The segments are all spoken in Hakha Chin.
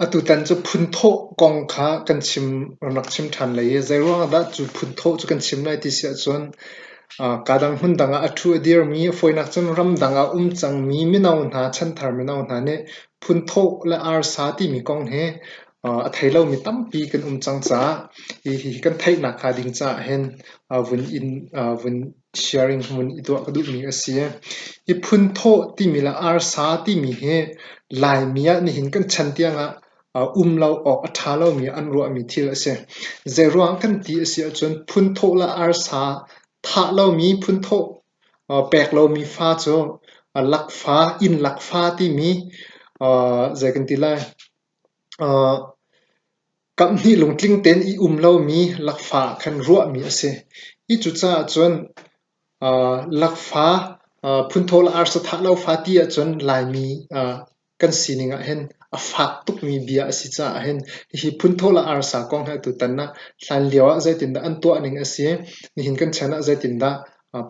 Atutan cu phunthawh kong kha kan chim rak chim ṭhan lai i zeiruangah dah cu phunthawh cu kan chim lai ti si ahcun kaa dang hmundang ah a ṭhu a dirmi fawinak cun ramdang ah um cangmi mino hna chanthar mino hna nih phunthawh le arsa timi kong hi a thei lomi tampi kan um cang caah hihi kan theihnak hnga ding caah hin vun in vun sharing vun i tuah ka duhmi a si. Hi phunthawh timi le arsa timi hi Laimi ah nihin kan chan tiangah um lo awk a ṭha lomi an ruahmi thil a si. Zeiruang kan ti a si ahcun phunthawh le arsa thah lomi phunthawh pek lomi fa cu lakfa, inn lakfa timi zei kan ti lai? Kamhnih lungtling tein i um lomi lakfa ah khan ruahmi a si. Hi cucaah cun lakfa phunthawla arsa thah lo fa ti ahcun Laimi kan sining ahhin a fak tukmi bia a si caah hin hihi phunthawla arsa kong hi atu tan ah hlanlio ah zeitindah an tuahning a si, nihin kan chan ah zeitindah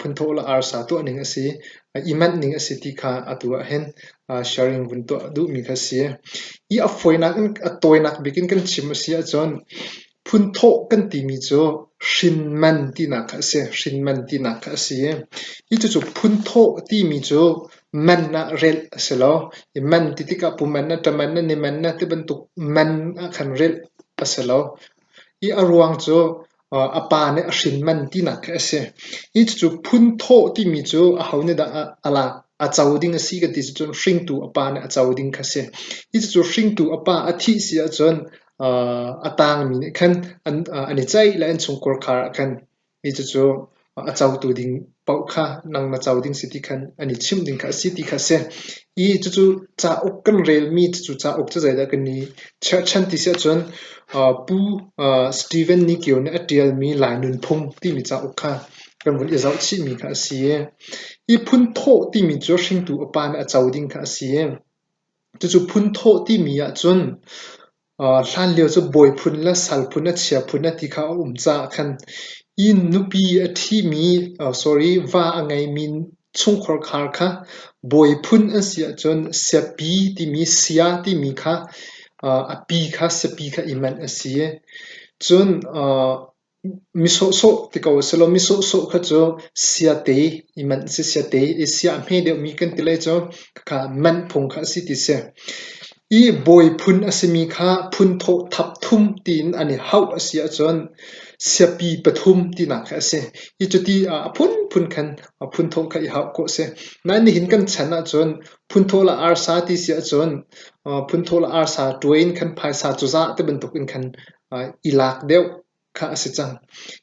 phunthawh le arsa tuahning a si, i manhning a si ti kha atu ahhin sharing vun tuah duhmi kha a si. I a fawinak in a tawinak bik in kan chim a si ahcun phunthawh kan timi cu hrinman tinak kha a si, hrinman tinak kha a si. Hi cucu phunthawh timi cu man ah relh a si lo. I man ti tikah puman na, ṭaman na, niman na ti bantuk man ah khan relh a si lo. I a ruang cu a pa nih a hrin man tinak khi a si. Hi cucu phunthawh timi cu aho nih dah a lak, a co ding a si kan ti cun hringtu a pa nih a co ding kha a si. Hi cucu hringtu a pa a thih si ahcun a tangmi nih khan an i ceih le an chungkhar kha khan hi cucu a cotu ding paoh kha nang na co ding si ti khan an i chimh ding kha a si ti kha a si. I cucu cauk kan relmi cucu cauk cu zeidah kan i cherhchan ti si ahcun uh, Pu uh, Stephen Nikio nih a ṭialmi Lai Nunphung timi cauk kha kan vun i zoh chihmi kha a si i i phun thawh timi cu hringtu a pa nih a co ding kha a si i cucu phun thawh timi ahcun Hlanlio cu bawi phun le sal phun le chia phun ti kha a um caah khan inn nupi a ṭhimi sorry va a ngeimi chungkhar khar kha bawi phun an si ahcun siapi timi sia timi kha a pi kha siapi kha i manh a si. Cun Mi sawhsawh ti ko selaw mi sawhsawh kha cu siate i manh a si, siate i sia a hme deuhmi kan ti lai cu. Khakha manh phung kha a si ti si. I bawi phun a simi kha phun thawhthap thum tiin an i hauh a si ahcun siapi pathum tinak kha a si. Hi cu ti ah a phunphun khan a phunthawh kha i hauh khawh a si. Nain nihin kan chan ahcun phunthawh le arsa ti si ahcun phunthawh le arsa tuai in khan phaisa cuzah ti bantuk in khan i lak deuh kha a si cang.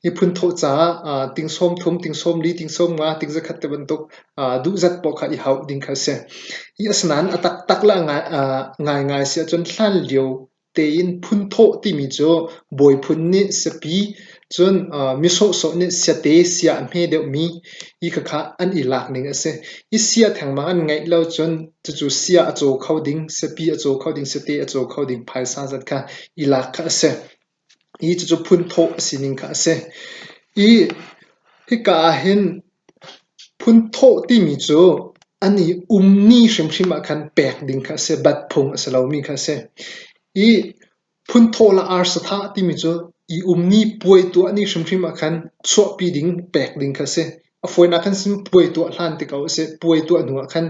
Miphun thawh caah aa ting sawm thum, ting sawm li, ting sawm nga, ting zakhat ti bantuk aa duhzat paoh kha i hauh ding kha a si. Hi asinain a taktak le a ngai, aa ngaingai si ahcun hlan lio tein phun thawh timi cu bawi phun nih siapi cun aa mi sawhsawh nih siate sia a hme deuhmi hi khakha an i lak ning a si. Hi sia thengmang an ngeih lo cun cucu sia a caw kho ding, siapi a caw kho ding, siate a caw kho ding phaisa zat kha i lak kha a si. I cucu phunthawh a sining kha a si. I hika ah hin phunthawh timi cu an i um ni hrimhrim ah khan pek ding kha a si. Bat phung a si lomi kha a si. I phunthawh la ar satha timi cu i um ni puai tuah ni hrimhrim ah khan chuahpi ding, pek ding kha a si. A fawinak khan si puai tuah hlan tik ah sih puai tuah hnu ah khan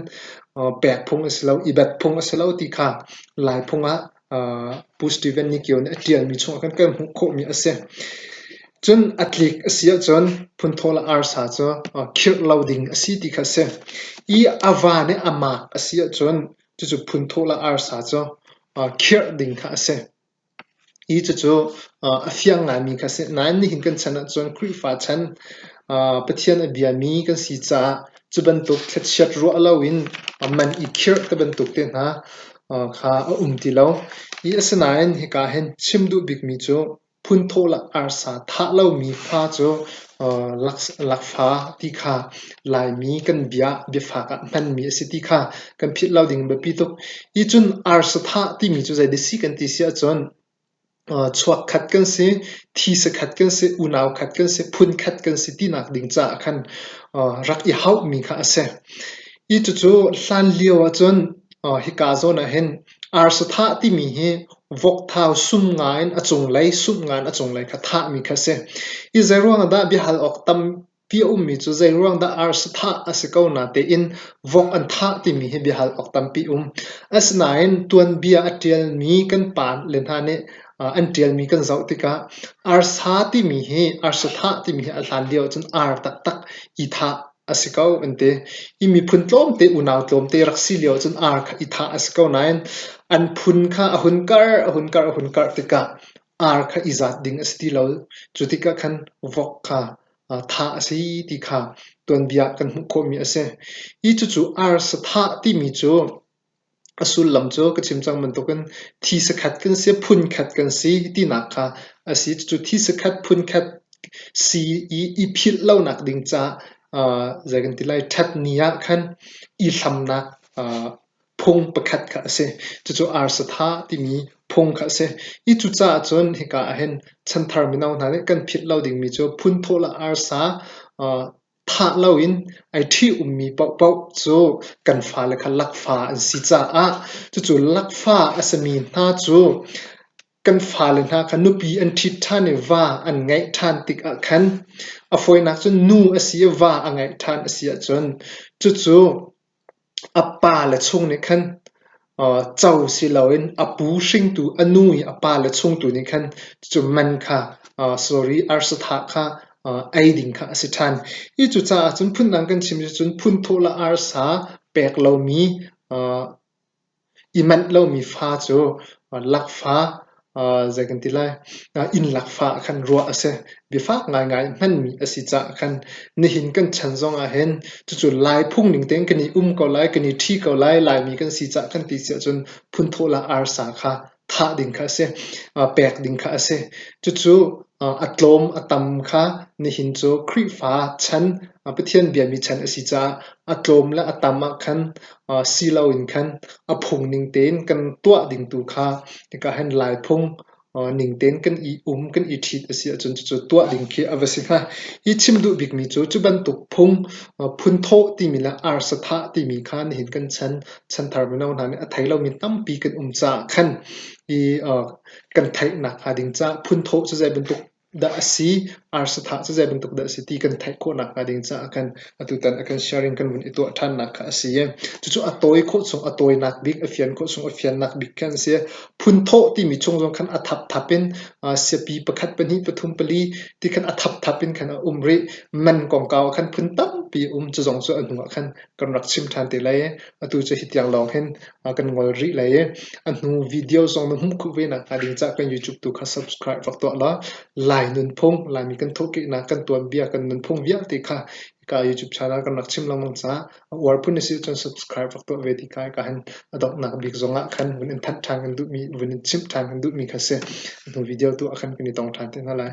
pek phung a si lo, i bet phung a si lo ti kha Lai phung ah Pu Steven Nikio nih a ṭialmi chungah khan kan hmuh khawhmi a si. Cun a tlik a si ahcun phunthawl a arsa cu khirh lo ding a si ti kha a si. I a va nih a maak a si ahcun cucu phunthawl a arsa cu khirh ding kha a si. Hi cucu a fiang ngaimi kha a si. Nain nihin kan chan ahcun Khrihfa chan Pathian a biami kan si caah cu bantuk thlachiat ruah loin man i khirh ti bantuk te hna kha a um ti lo. Hi a si nain hika hin chim duh bikmi cu phun thawhlak arsa thah lomi fa cu Lakfa ti kha Laimi kan bia biafak ah hmanmi a si ti kha kan philh lo ding in biapi tuk. Hi cun arsathah timi cu zeidah a si kan ti si ahcun chuak khat kan si, thisa khat kan si, unau khat kan si, phun khat kan si tinak ding caah khan rak i hauhmi kha a si. Hi cucu hlan lio ahcun hika zawn ah hin Arsathah timi hi vokthau sum ngaiin a cunglei sumh ngaiin a cunglei kha thahmi kha a si. Hi zeiruang ahdah biahal awk tampi a ummi cu zeiruang dah arsathah a si ko natein vok an thah timi hi biahal awk tampi a um. Asinain tuanbia a ṭialmi kan pa le hna nih an ṭialmi kan zoh tikah arsa timi hi arsathah timi hi a hlan lio ahcun ar taktak i thah A si ko an ti. I miphun tlawmte, unau tlawmte rak si lio ahcun aa i thah a si ko nain an phun kha a hun karh, a hun karh, a hun karh tikah ar kha i zat ding a si ti lo. Cu tikah khan vok kha thah a si ti kha tuanbia kan hmuh khawhmi a si. Hi cucu ar sathah timi cu A sullam cu ka chim cang bantukin thi sakhat kan si, phun khat kan si tinak kha a si. Cucu thi sakhat, phun khat si i, i philh lonak ding caah aa zei kan ti lai, ṭhatni ah khan i hlamnak aa phung pakhat kha a si. Cucu arsatha timi phung kha a si. Hi cucaah cun hika ahhin chanthar mino hna nih kan philh lo dingmi cu phun thawh le arsa aa Thah loin ai ṭhi ummi paohpaoh cu kan fale kha lakfa an si caah cucu lakfa a simi hna cu kan fale hna kha nupi an ṭhit ṭhan i va an ngeih ṭhan tikah khan a fawinak cu nu a si i va a ngeih ṭhan a si ahcun cucu A pa le chung nih khan co si loin a pu hringtu, a nu i a pa le chung tu nih khan cucu man kha sorry arsathah kha ei ding kha a si ṭhan. Hi cucaah cun phundang kan chim cu cun phun thawhla arsa pek lomi I manh lomi fa cu lakfa zei kan ti lai innlakfa ah khan ruah a si. Biafak ngaingai hmanmi a si caah khan nihin kan chan zongah hin cucu Lai phungning tein kan i um ko lai, kan i ṭhi ko lai, Laimi kan si caah khan ti si ahcun phun thawhla arsa kha thah ding kha a si, pek ding kha a si. Cucu a tlawm a tam kha nihin cu Khrihfa chan, Pathian biami chan a si caah a tlawm le a tam ah khan si loin khan a phung ning tein kan tuah ding tu kha hika hin Laiphung ning tein kan i um, kan i ṭhit a si ahcun cucu tuah ding khi a va si hnga. Hi chim duh bikmi cu, cu bantuk phung phun thawh timi le arsa thah timi kha nihin kan chan chanthar mino hna nih a thei lomi tampi kan um caah khan i kan theih nakhnga ding caah phunthawh cu zei bantuk dah a si, arsathah cu zei bantuk dah a si ti kan theih khawh nakhnga ding caah khan atutan a kan sharing kan vun i tuah ṭhannak kha a si. Cucu a tawi khawh chung, a tawinak bik, a fian khawh chung, a fiannak bik kha an si. Phunthawh timi chung zong khan a thapthap in siapi pakhat pahnih pathum pali ti khan a thapthap in khan a um rih. Man kongkau ah khan phun tampi um, cu zong cu a hnuah khan kan rak chim ṭhan te lai i atu cu hitiang lawng hin kan ngol rih lai i a hnu video zong na hmuh khuh ve nakhnga ding ca'h kan YouTube tu kha subscribe rak tuah law Lai nunphung Laimi kan thawhkehnak kan tuanbia kan nunphung vialte kha hika YouTube channel kan rak chim lengmang caah a uar phun a si cun subscribe rak tuah ve ti ka hika hin A donghnak bik zongah khan vun in thanh ṭhan kan duhmi, vun in chimh ṭhan kan duhmi kha a si. Hnu video tu ah khan kan i tong ṭhan te hna lai.